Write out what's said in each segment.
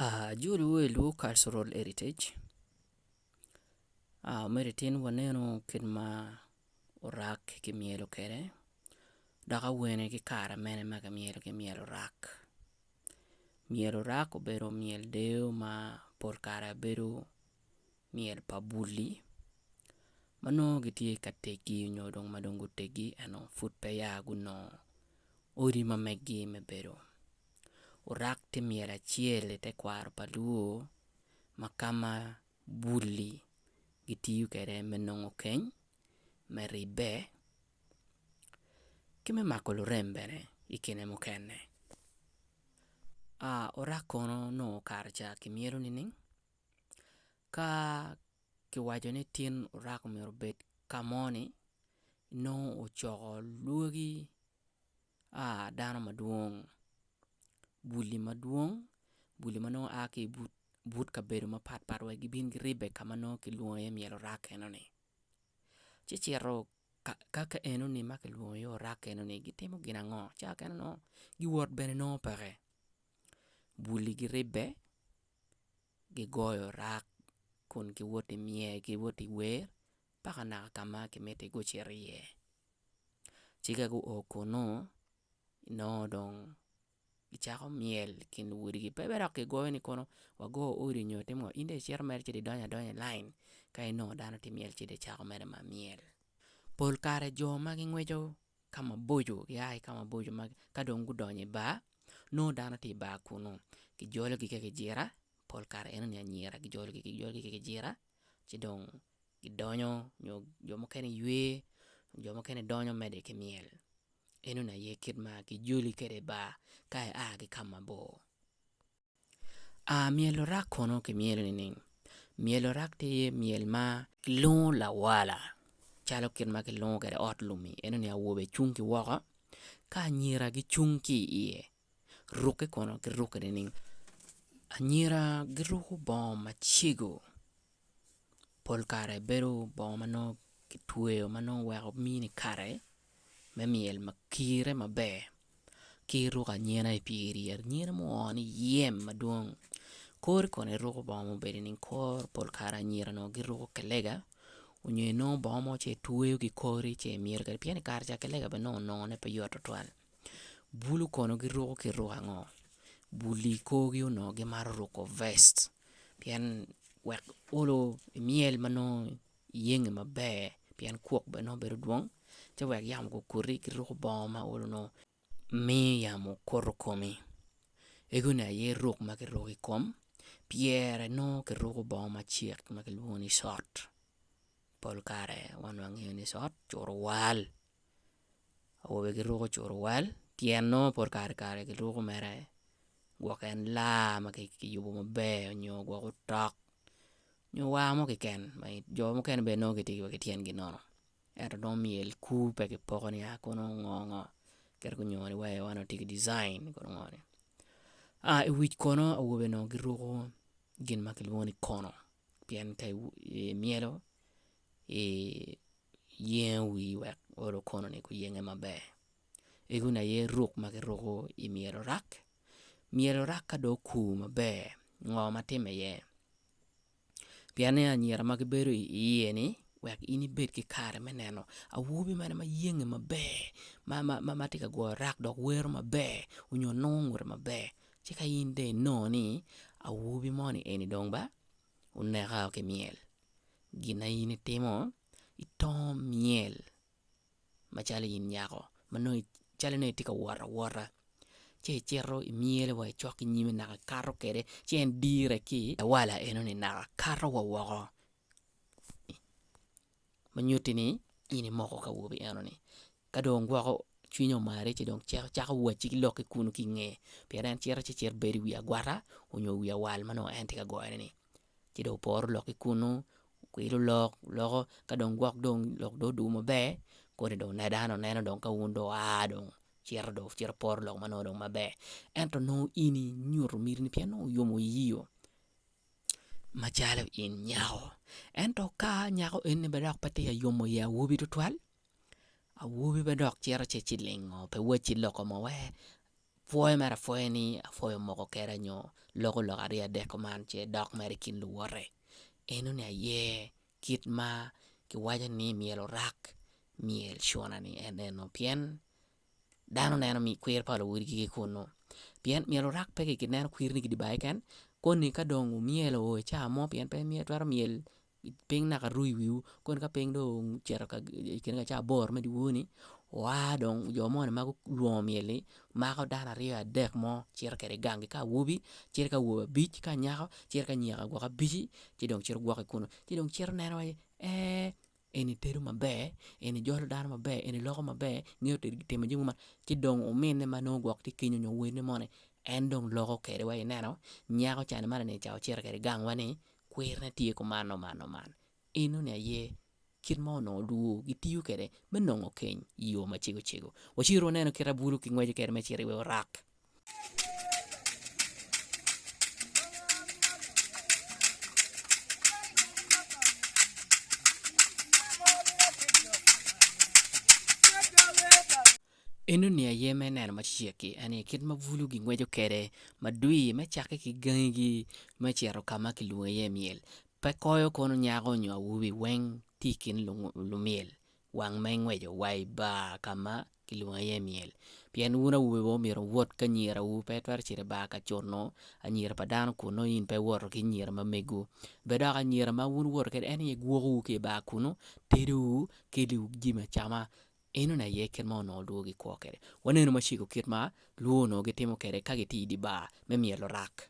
Ajolo wa i lwor cultural heritage me titino waneno kit ma orak ki myelo kwede dok awene ki kare amene ma ki myelo ki myel orak, myel orak obedo myel deyo ma pol kare bedo myel pa bul-li ma nongo gitye ka tegi nyo dong ma dong gutegi ento pud peya gunongo odi ma meggi me bedo. Wurak tye myel acel i tekwaro pa Luo ma kama bul-li gitiyo kwede me nongo keny, me ribbe ki me mako lurem bene i kine mukene. Wurak kono nongo kare ca kimyelo nining? Ka kiwaco ni tin wurak myero obed ka mo-ni nongo wucoko lwagi a dano madwong bul-li madwong bul-li ma nongo a ki ibut kabedo mapat pat wek gibin guribbe ka ma nongo kilwongo iye myel orak enoni ci cito ka ka enoni ma kilwongo iye orak enoni gitimo gin ango? Ca mukene nongo giwot bene nongo peke bul-li giribbe gigoyo orak kun giwoti myel giwoti wer paka naka ka ma kimiti gucit iye. Ci ka guo kunnu, nongo dong gicako myel i kin luwotgi pe bene dok kigoyo ni kono wago odi nyo timo ngo in dong icito mere ci dong idonyo adonya i lain ka inongo dano tye ka myel ci dong icako mere ma myel. Pol kare jo ma gingweco ka maboco gia ki ka maboco ma ka dong gudonyo i bar nongo dano tye i bar kunnu kijologi ki kijira pol kare enoni anyira kijologi kijologi ki kijira. ci dong gidonyo nyo jo mukene giywe jo mukene donyo mede ki myel eno ni aye kit ma kijoli kwede i bar ka ia ki ka mabor myel orak kono kimyelo nining? Myel orak tye myel ma kilwongo lawala calo kit ma kilwongo kwede ot lum-mi eno ni awobe cung ki woko ka anyira gicung ki iye Rukke kono girukke nining? Anyira giruko bongo macego pol kare bedo bongo ma nongo kitweyo ma nongo oweko mini kare me myel ma kirre maber ki ruko anyira i pyeri anyira ma oo ni yem madwong kori kono iruko bongo ma obedo nining kor pol kare anyira nongo giruko kilega nyo inongo bongo mo ci itweyo ki kori ci imyelo kwede pien i kare ca kilega bene nongo nongone pe yot tutwal. Bulu kono giruko ki ruk ango? Bul-li i korgi onongo gimaro ruko vest pien wek olo myel ma nongo iyenyo maber pien kwok bene nongo bedo dwong ci wek yamo okoti giruko bongo ma olo nongo miyo yamo koto komi ego ni aye ruk ma kiruko i kom pyere nongo kiruko bongo macek ma kilwongo ni cot pol kare wan wangeyo ni cot curo wal. awobe giruko curuwal tyen nongo pol kare kare giruko mere gwok en laa ma kiyubo maber nyo gwok otok nyo war mo keken ma jo mukene bene nongo gitye wa ki tyengi nono ento nongo myel kur pe kipoko ni aa kono ngo ngo kit ma gunyoyo ni wai man tye ki dijain ma kono ngo ni i wic kono awobe nongo giruko gin ma kilwongo ni kono pien ka imyelo iyengo wii wek oro okononi guyenge maber ego ni aye ruk ma kiruko i myero orak, myero orak ka dong okur maber ngo ma timme iye pienni anyira ma gibedo iye ni wek in ibed ki kare me neno awobi mene ma yenge maber ma tye ka goyo rak dok wero maber onyo nongo ngute maber ci ka in dong inongo ni awobi moni eni dong ba oneka ki myel gin ma in itimo itongo myel macalo in nyako ma nongo calo nongo itye ka wot awota ci icito imyelo wa icok ki nyime naka ikato kwede ci en dire ki lawala enoni naka kato wa woko. ma nyutti ni in imoko ki awobi eno ni ka dong gwoko cwinye omare ci dong cito cako wacci ki lok ki kunu ki inge pien en cito ci cit bedo i wi agwata onyo i wi awal ma nongo en tye ka goyone ni ci dong oporo lok ki kunu kwilo lok loko ka dong gwok dong lok dong odwogo maber kodi dong ne dano neno dong ka wun dong oa dong cito dong cito poro lok ma nongo dong maber ento nongo in inyuto miti ni pien nongo oyomo iyio macalo in nyako ento ka nyako eni bene dok pe tye ka yomo i awobi tutwal, awobi bene dok cito ci cilingo pe wacci loko mo wek pwoyo mere apwoya ni apwoyo moko kene nyo loko lok aryo adek kuman ce dok mere i kin luwote eno ni aye kit ma kiwaco ni myero orak myel cuna ni en eno pien dano neno kwir pa luwotgi ki kunnu pien myero wurak pe ki neno kwir ni ki Dubai keken koni ka dong wumyelo oo i cawa mo pien pe itwero myel piny naka ru i wiwu koni ka piny dong ocito i kine ka cawa aboro me dyewor ni wua dong jo moni ma gulwongo myel ni mako dano aryo adek mo cito kwede i gang-gi ka awobi cito ki awobe abic ka anyaka cito ki anyira gwok abici ci dong cito gwok ki kunu ci dong cito neno wai ee en itedo maber, en ijolo dano maber, en iloko maber, ingeyo timo jami maber ci dong ominne ma nongo gwok tye kenyo nyo wadine moni en dong loko kede wa ineno nyako cani mani ni ca ocito kede gang wa ni kwir ne tye ku man man o man eno ni aye kit ma onongo olwo gitiyo kede me nongo keny iyo macego cego wacir wanenu kit abulu ki ngweco kede me ciro i orak. Enoni aye ma ineno macego-ki, en aye kit ma bulu gingweco kwede madwir me cakke ki gangigi me cito ka ma kilwongo iye myel. Pe koyo kono nyako nyo awobi weng tye i kin lumyel wang ma ingweco wa i bar ka ma kilwongo iye i myel pien wun awobe wa myero wuwot ki anyirawu pe itwero cito i bar ka cuno anyira pa dano kun nongo in pe iwoto ki anyira ma mego bed dok anyira ma wun iwoto kwede en aye gwokowu ki i bar kunu tedowu kelliwu jami acama enoni aye kit ma onongo lwongo gikwo kwede wanenu macego kit ma lwongo onongo gitimo kwede ka gitye i dye bar me myel lurak.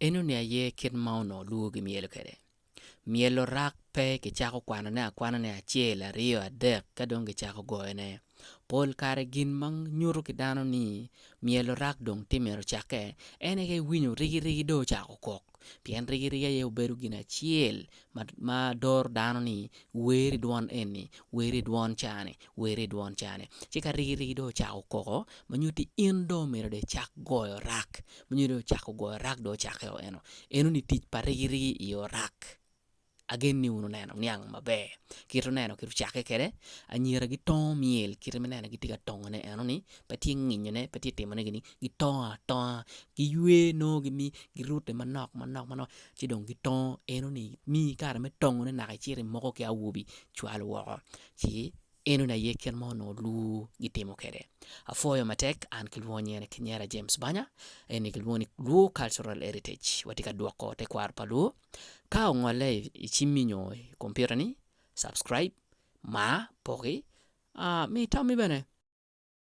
Eno ni aye kit ma onongo lwor ki myelo kwede. Myelo rak pe ki cako kwano ne akwana ne acel aryo adek ka dong ki cako goyo ne. Pol kare gin ma nyuto ki dano ni myelo rak dong tye myero ocake ene ka iwinyo rigi rigi dong ocako kok pien rigi rigi aye obedo gin acel ma doro dano ni wer i dwon eni, wer i dwon ca ni, wer i dwon ca ni. Ci ka rigirigi dong ocako koko ma nyutti in dong omyero dong icak goyo rak, ma nyutti dong ocako goyo rak dong ocakke o eno, eno ni tic pa rigirigi i oyo rak. Agen ni wun wuneno niang maber kit oneno kit ocakke kwede, anyira gitongo myel kit ma ineno gitye ka tongone eno ni pe tye nginyone pe tye timone gini, gitongo atonga, giywe nongo gimi girute manok manok manok. ci dong gitongo enoni miyi kare me tongone naka icit imoko ki awobi cwal woko ci enoni aye kit ma onongo lwor gitimo kwede apwoyo matek an ki lwonye ni kinyera James Banya eni kilwongo ni Luo Cultural Heritage watye ka dwoko tekwaro pa Luo ka ongolle icimmi nyo i kompiuta ni subscribe, mar, poki, mi itammi bene.